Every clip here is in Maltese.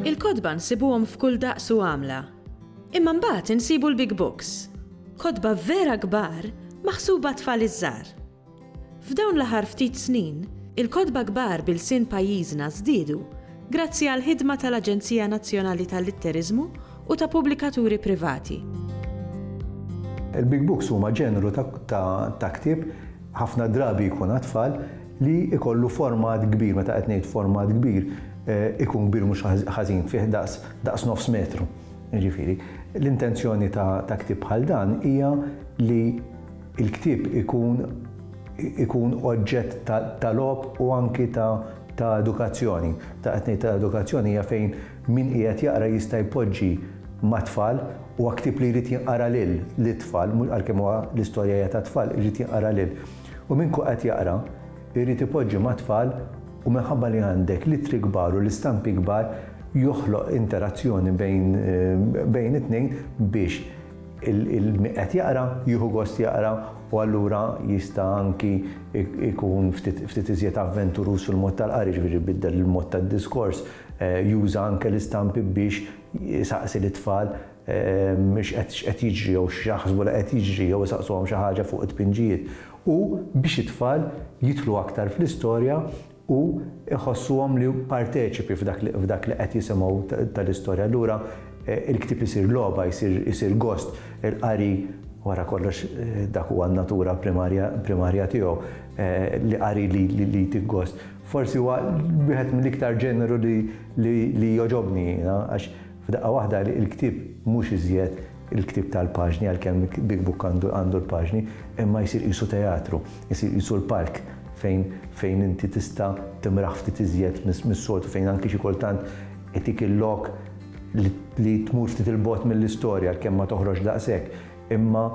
Il-kotba nsibuhom f'kull daqs u għamla. Imma mbagħad insibu l-big books. Kotba vera kbar maħsuba għat-tfal iż-żgħar. F'dawn l-aħħar ftit snin, il-kotba kbar b'ilsien pajjiżna żdiedu grazzi għall-ħidma tal-Aġenzija Nazzjonali tal-Litteriżmu u ta' pubblikaturi privati. Il-Big Books huma ġeneru ta' ktieb ħafna drabi jkun għat-tfal li jkollu format kbir, meta qed ngħid format kbir, eh, ikun kbir mhux ħażin fih daqs nofs metru. Ġifieri, l-intenzjoni ta' ktieb bħal dan hija li Il-ktieb ikun ikun oġġett ta' logħob u anki ta' ta' edukazzjoni. Ta' qed ngħid ta' edukazzjoni hija fejn min qiegħed jaqra jista' jpoġġi mat-tfal, huwa ktieb li jrid jinqara lil lit-tfal, mhux għalkemm huwa l-istorja hija tat-tfal, irid jinqara lil. U min qed jaqra jrid ipoġġi mat-tfal u minħabba li għandek l-ittri kbar u l-istampi kbar joħloq interazzjoni bejn bejn it-tnejn biex Il-min qed jaqra jieħu gost jaqra u allura jista' anki jkun ftit iżjed avventuruż fil-mod tal-qari, ġifieri jbiddel il-mod tad-diskors, juża anke l-istampi biex isaqsi lit-tfal x'qed jiġri jew x'jaħsbu li qed jiġri jew isaqsuhom xi ħaġa fuq it-tpinġijiet. U biex it-tfal jidħlu aktar fl-istorja u jħossuhom li parteċipi f'dak li qed jisimgħu tal-istorja. Allura il-ktieb isir logħba, isir gost. Il-qari, wara kollox dak huwa n-natura primarja tiegħu, li qari li jtik gost. Forsi huwa wieħed mill-iktar ġeneru li jogħġobni jiena għax f'daqqa waħda il-ktieb mhux iżjed il-ktieb tal-paġni għalkemm Big Book għandu l-paġni imma jsir qisu teatru. Isir qisu l-park fejn fejn inti tista' timraħ ftit iżjed mis-soltu, fejn anki xi kultant itik il-lok li li tmur ftit 'il bogħod mill-istorja għalkemm ma toħroġx daqshekk, imma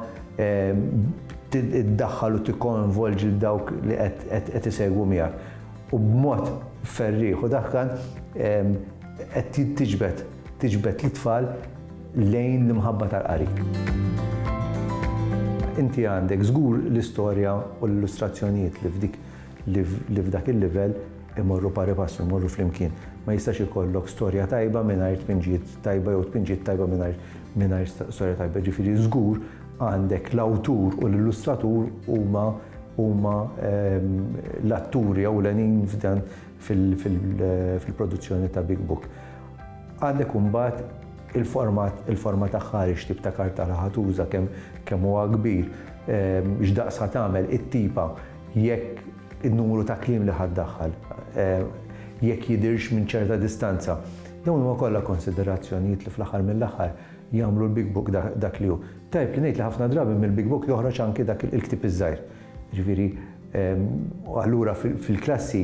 iddaħħal u tikkoinvolġi lil dawk li qed qed isegwu miegħek. U b'mod ferrieħ u daħkan qed tiġbed tiġbed lit-tfal lejn l-imħabba tal-qari. Inti għandek żgur l-istorja u l-illustrazzjonijiet li f'dik li f'dak il-livell imorru pari passu, imorru flimkien. Ma jistax ikollok storja tajba mingħajr tpinġiet tajba jew tpinġiet tajba mingħajr storja tajba. Ġifieri żgur għandek l-awtur u l-illustratur huma huma ehm, l-atturi ewlenin f'dan fil-produzzjoni ta' Big Book. Għandek imbagħad il-format, il-format aħħari x'tip ta' kartara ħa tuża, kemm kemm huwa kbir, x'daqs ħa tagħmel, it-tipa, jekk in-numru ta' kliem li ħa ddaħħal, jekk jidhirx minn ċerta distanza. Dawn huma kollha konsiderazzjonijiet li fl-aħħar mill-aħħar jagħmlu l-Big Book dak li hu. Tajjeb li ngħid li ħafna drabi mill-Big Book joħroġ anki dak il-ktieb iż-żgħir. Jiġifieri, u allura fil-klassi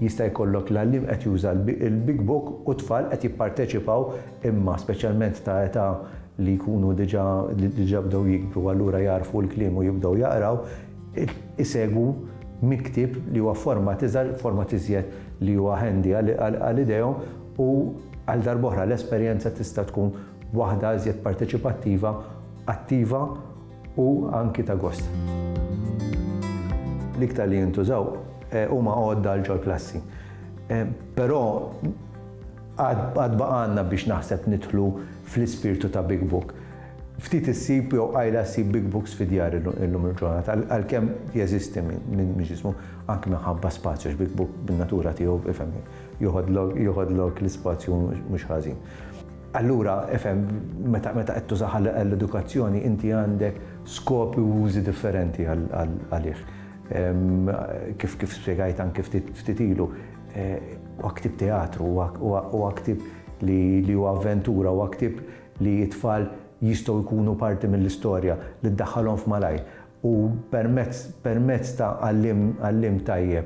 jista' jkollok l-għalliem qed juża l-big book u t-tfal qed jipparteċipaw imma speċjalment ta' età li jkunu diġà li diġà bdew jikbru allura jagħrfu l-kliem u jibdew jaqraw, isegwu minn ktieb li huwa f'format iżgħar, format iżjed li huwa handy għal idejhom u għal darba oħra l-esperjenza tista' tkun waħda iżjed parteċipattiva, attiva, u anki ta' gost. L-iktar li jintużaw huma għodda għal ġol-klassi. Però għad baqa' għandna biex naħseb nidħlu fl-ispirtu ta' Big Book. Ftit issib jew qajla ssib Big Books fi djar illum il-ġurnata, għalkemm jeżisti min mhix jismu, anki minħabba spazju għax Big Book bin-natura tiegħu, ifhem, joħodlok l-ispazju mhux ħażin. Allura, ifhem, meta qed tużah għall-edukazzjoni, inti għandek skop u użi differenti għalih. Kif spjegajt anke ftit ilu, huwa ktieb teatru, huwa ktieb li huwa avventura, huwa ktieb li t-tfal jistgħu jkunu parti mill-istorja, li ddaħħalhom f'malajr. U permezz ta' għalliem tajjeb